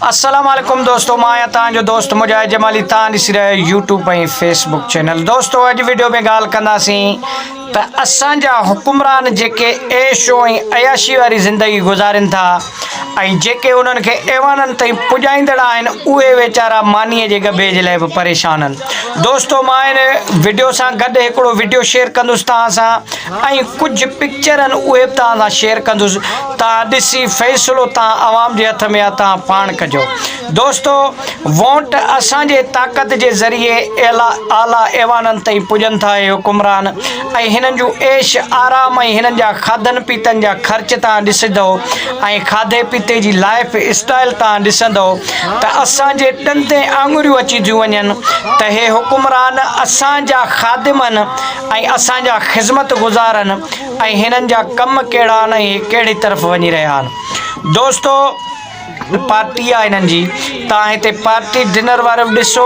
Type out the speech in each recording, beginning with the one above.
السلام عليڪم دوستو مان آهيان توهان جو دوست مجاهد جمالي توهان ڏسي رهيا آهيو يوٽيوب ۽ فيس بڪ چينل دوستو اڄ ويڊيو ۾ ڳالهه ڪنداسين ته اسان جا حڪمران جيڪي عيش ۽ عياشي واري زندگي گذارين ٿا ۽ جيڪي انهن کي ايوانن تائين پڄائيندڙ آهن اهي ويچارا ماني جي ڳڀي جي لاء به پريشان آهن دوستو مان هن ويڊيو سان گڏ هڪڙو ويڊيو شيئر ڪندس توهان سان ۽ ڪجهه پڪچرن اهي به توهان سان شيئر ڪندس توهان ڏسي فيصلو توهان عوام جي هٿ ۾ آ توهان پاڻ ڪجو دوستو وونٽ اسان جي طاقت جي ذريعي اعليٰ اعليٰ ايوانن تائين پڄن ٿا اهي حڪمران ۽ هنن جون عيش آرام ۽ هنن جا کاڌن پيتن جا خرچ توهان ڏسندو ۽ کاڌي پيتي جي لائف اسٽائل توهان ڏسندو ته اسان جي ڏندين آڱريون اچي ٿيون وڃن ته هي حڪمران اسان جا خادمن ۽ اسان جا خذمت گذار آھن ۽ ھنن جا ڪم ڪھڙا آھن ۽ ھي ڪھڙي طرف وڃي رھيا آھن دوستو پارٽي آ ھنن جي تان ھتي پارٽي ڊنر وارو بھ ڏسو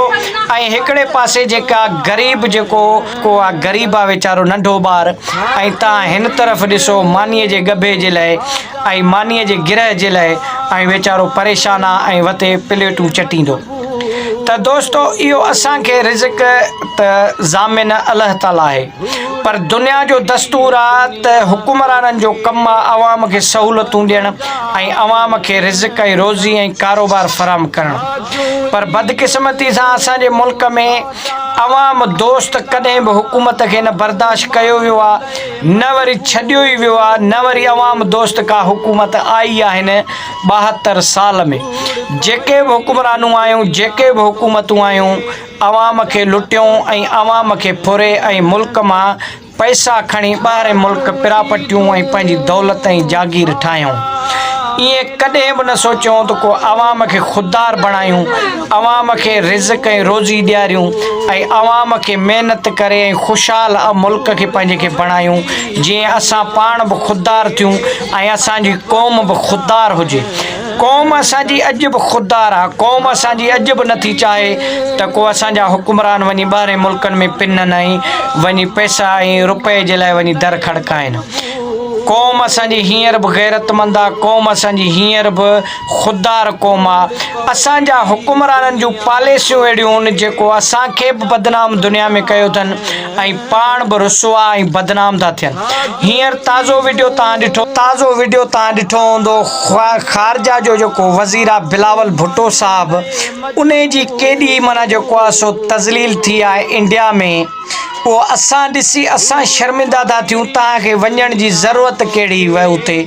۽ ھڪڙي پاسي جيڪا غريب جيڪو ڪو آ غريب آ ويچارو ننڍو ٻار ۽ تان ھن طرف ڏسو ماني جي ڳڀي جي لئي ۽ ماني جي گرھ جي لئي ۽ ويچارو پريشان آ ۽ وتي پليٽون چٽيندو. ته دوستو اهو اسان کي رزق ته ضامن الله تعالي آهي پر دنيا جو دستور آ ته حڪمرانن جو ڪم آ عوام کي سهولتون ڏيڻ ۽ عوام کي رزق ۽ روزي ۽ ڪاروبار فراهم ڪرڻ پر بدقسمتي سان اسان جي ملڪ ۾ عوام دوست ڪڏهن به حڪومت کي نه برداشت ڪيو ويو آ نه وري ڇڏيو ئي ويو آ نه وري عوام دوست ڪا حڪومت آئي آهن ٻاهتر سال ۾ جيڪي به حڪمرانون آيون، جيڪي به حڪومتون آيون، عوام کي لٽيون ۽ عوام کي ڦري ۽ ملڪ مان پئسا کڻي ٻاهرئين ملڪ پراپرٽيون ۽ پنهنجي دولت ۽ جاگير ٺاهيون. ايئن ڪڏهن به نه سوچيون ته ڪو عوام کي خوددار بڻايون، عوام کي رزق ۽ روزي ڏياريون ۽ عوام کي محنت ڪري ۽ خوشحال ملڪ کي پنهنجي کي بڻايون جيئن اسان پاڻ به خوددار ٿيون. ۽ اسان جي قوم به خوددار هجي. قوم اسان جي اڄ به خوددار آ، قوم اسان جي اڄ به نٿي چاهي ته ڪو اسان جا حڪمران وڃي ٻاهرين ملڪن ۾ پنن ۽ وڃي پئسا ۽ روپئي جي لاء وڃي در کڙڪائين. قوم اسان جي هينئر به غيرتمند آ، قوم اسان جي هينئر به خوددار قوم آ. اسان جا حڪمرانن جون پاليسيون اهڙيون هن جيڪو اسان کي به بدنام دنيا ۾ ڪيو اٿن. ۽ پاڻ به رسوا ۽ بدنام ٿا ٿين هينئر تازو وڊيو توهان ڏٺو تازو وڊيو توهان ڏٺو هوندو خارجه جو جيڪو وزير آهي بلاول ڀٽو صاحب انهي جي ڪيڏي معنيٰ جيڪو آهي سو تذليل ٿي آهي انڊيا ۾ اهو اسان ڏسي اسان شرمنده ٿا ٿيون توهان کي وڃڻ جي ضرورت ڪهڙي هئي اتي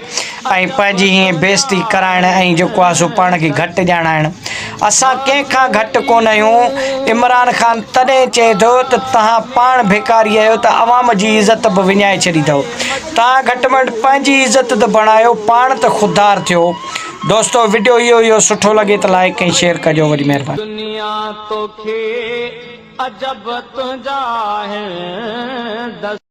۽ پنهنجي ائين بيعزتي ڪرائڻ ۽ جيڪو آهي سو پاڻ کي گهٽ ڄاڻائڻ اسان ڪنهن کان گهٽ ڪونه آهيون عمران خان تڏهن چئي ٿو ته توهان پاڻ ڀيڪاري آهيو ته عوام جي عزت به وڃائي ڇڏي اٿو توهان گهٽ ۾ گهٽ پنهنجي عزت ته بڻايو پاڻ ته خوددار ٿيو دوستو وڊيو اهو هيو سٺو لڳي ته لائيڪ ۽ شيئر ڪجو وڏي مهرباني. دنيا توکي عجب تنهنجا آهن دس.